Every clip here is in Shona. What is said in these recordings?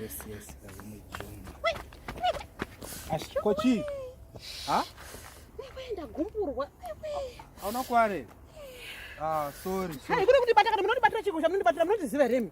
Yes, yes, Kochi. Ha? Nikuenda gumpurwa. Hauna kware. Ah, sorry. Hai, kuri kuti bata kana munoti batira chiko chamunoti batira munoti ziva remi.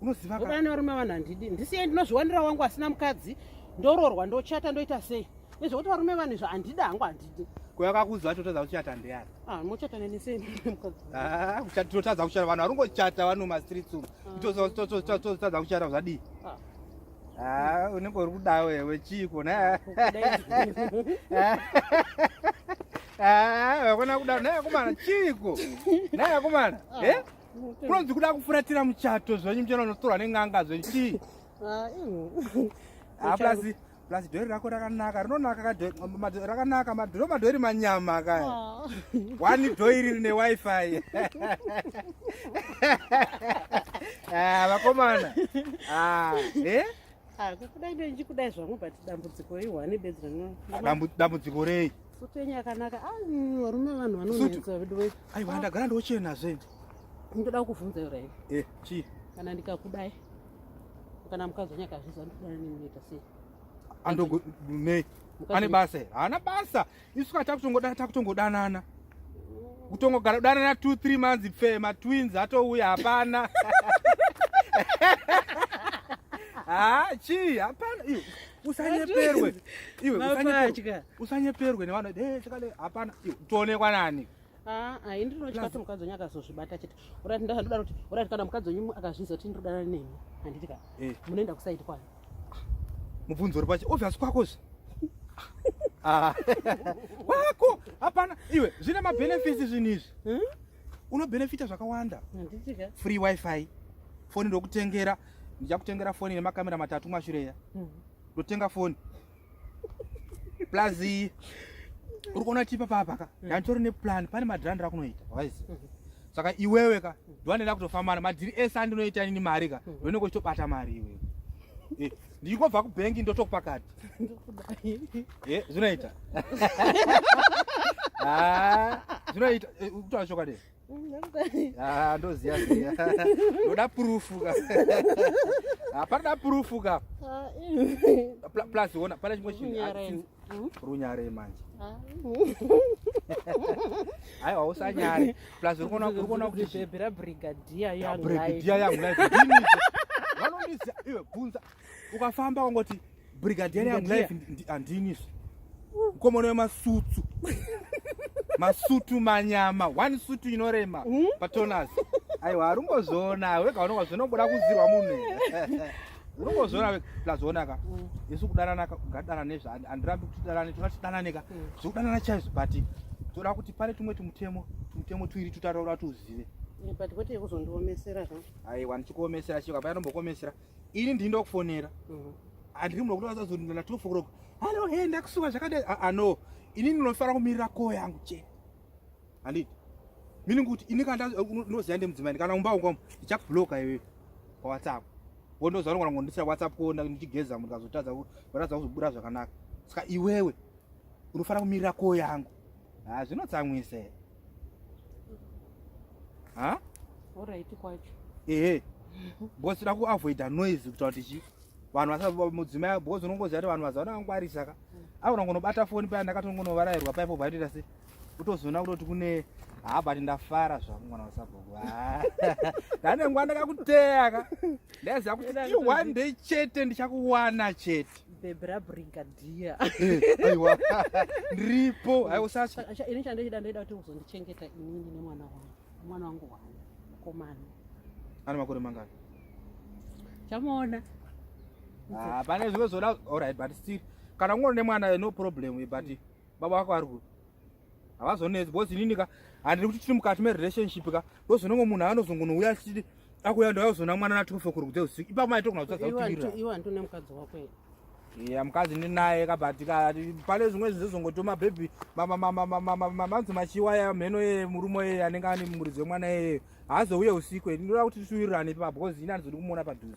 unoziva ka vana varume vanhu handidi ndisiye ndinozviwanira wangu asina mukadzi ndororwa ndochata ndoita sei nezvekuti varume vanhu izvo handida hangu handidi kuyakakuzi vacho totadza kuchata ndeyani ah, mochata neni sei ah, totadza kuchata vanhu varungochata vano mastreets umu ah. totadza kuchata zvadii Ah, unenge uri kuda wewe chiko na vakona kuda naye akomana chiko naye akomana e Kunonzi kuda kufuratira muchato zvenyu muchero unotorwa nen'anga zvenyu chii? Ah, ah, plus plus dhori rako rakanaka rinonaka rakanaka madhoro madhori manyama kaya ah. one dhoiri rine wifi vakomana eh? kudai ndichikudai zvangu but dambudziko rei one bedzi dambudziko rei Sutenyi akanaka. Ah, varume vanhu vanonetsa veduwe. Aiwa ndagara ndochena zve. Ndoda kukuvhunza yora iwe. Eh, chii? Kana ndikakudai. Kana mukadzi wangu akazviza ndikudai ninoita sei? Andogo nei? Ane basa. Haana basa. Isu ka takutongoda takutongodanana. Kutongogara kudanana 2 3 months pfe ma twins atouya hapana. Ah, chii? Hapana. usanyeperwe iwe usanyeperwe usanyeperwe nevana eh chakale hapana toonekwa nani ah ai ndino chikati mukadzi wenyu akazozvibata chete urati ndakadaro kuti urati kana mukadzi wenyu akazviza kuti ndodana nemi handiti ka eh. munoenda kusaidi kwani mubvunzo uri pacho obvious kwako zve ah. kwako hapana iwe zvine mabenefits zvinhu izvi hmm? unobenefita zvakawanda free wifi foni ndokutengera ndichakutengera foni ine makamera matatu mashureya hmm. ndotenga foni plus uri kuona tipa papaka hmm. yanditori neplan pane madhirandi rakunoita wise hmm. saka iwewe ka ndiwanenda kutofambana madhiri ese andinoita nini mari ka ndonenge uchitobata mari iwewe eh, ndichikobva kubhengi ndotokupakati eh, zvinoita ah, zvinoita eh, kutaura chokwadi Ah, ndoziva ziva ndoda purufu ka hapanoda purufu ka ah, plus ona pane chimwe chinhu runyare manje aiwa ah. usanyare plus uri kuona kuti bhebhera brigadier yangu life vanondiziva iwe bvunza ukafamba kwangoti brigadier young life handini izvi mukomana wemasutsu masutu manyama one sutu inorema hmm? patonas aiwa harungozviona wega unonga zvinobuda kuzirwa munhu unongozviona plazvionaka hmm. isu kudananaka ungadanane zva handirambi kuti danane toda tidananeka hmm. zvekudanana chaizvo but toda kuti pane tumwe tumutemo tumutemo tuiri tutataura tuzive but kwete yekuzondiomesera zva aiwa ndichikuomesera chio kapaya nombokuomesera ini ndini ndakufonera mhm. handiri muno kuti vasazonana twelve o'clock hallo he ndakusuka zvakadai aa ah, ah, no ini ndinofanira kumirira koo yangu chete handiti mini kuti ini kana ndinoziva ndemudzimai kana umba ungwamo ndichakubloka iwe pawhatsapp wondoziva nongona ngondisira whatsapp kuona ndichigeza munhu kazotadza vatadza kuzobuda zvakanaka saka iwewe unofanira kumirira koo yangu haa ah, zvinotsamwisa ha alright kwacho ehe because tinoda kuavoida noise kuta kuti chii vanhu vasamudzimai because unongoziva kuti vanhu vazaona vangwarisa ka aona ngonobata foni paya ndakatongonovarairwa paipo vaitoita se utozoona kutoti kune haa but ndafara zvangu mwana wasabhuku ndane nguva ndakakuteya ka ndaiziva kuti i one day chete ndichakuwana chete bebra brigadier eh, aiwa ndiripo aiwa sacha acha ini chandaida ndaida kuti uzondichengeta inini nemwana wangu mwana wangu wangu mukomana ana makore mangani chamuona ah pane zvimwe zvoda all right but still kana ungori nemwana no problem but baba wako ari ku havazonetsi because inini ka handiri kuti tiri mukati merelationship ka ndozonongo munhu anozongonouya achiti akuya ndayozona mwana na 12 kuri kudze usiku ipapo maitokuna kutadza kutiriraiwandinemukadzi ya mukadzi ndinaye ka but ka pane zvimwe zvinhu zvizongotoma bhebhi manzi machiwa ya mheno ye murume yeye anenge ane muridzi wemwana yeye haazouye usiku e ndinoda kuti tituwirirane ipapo because ini handizodi kumuona padhuze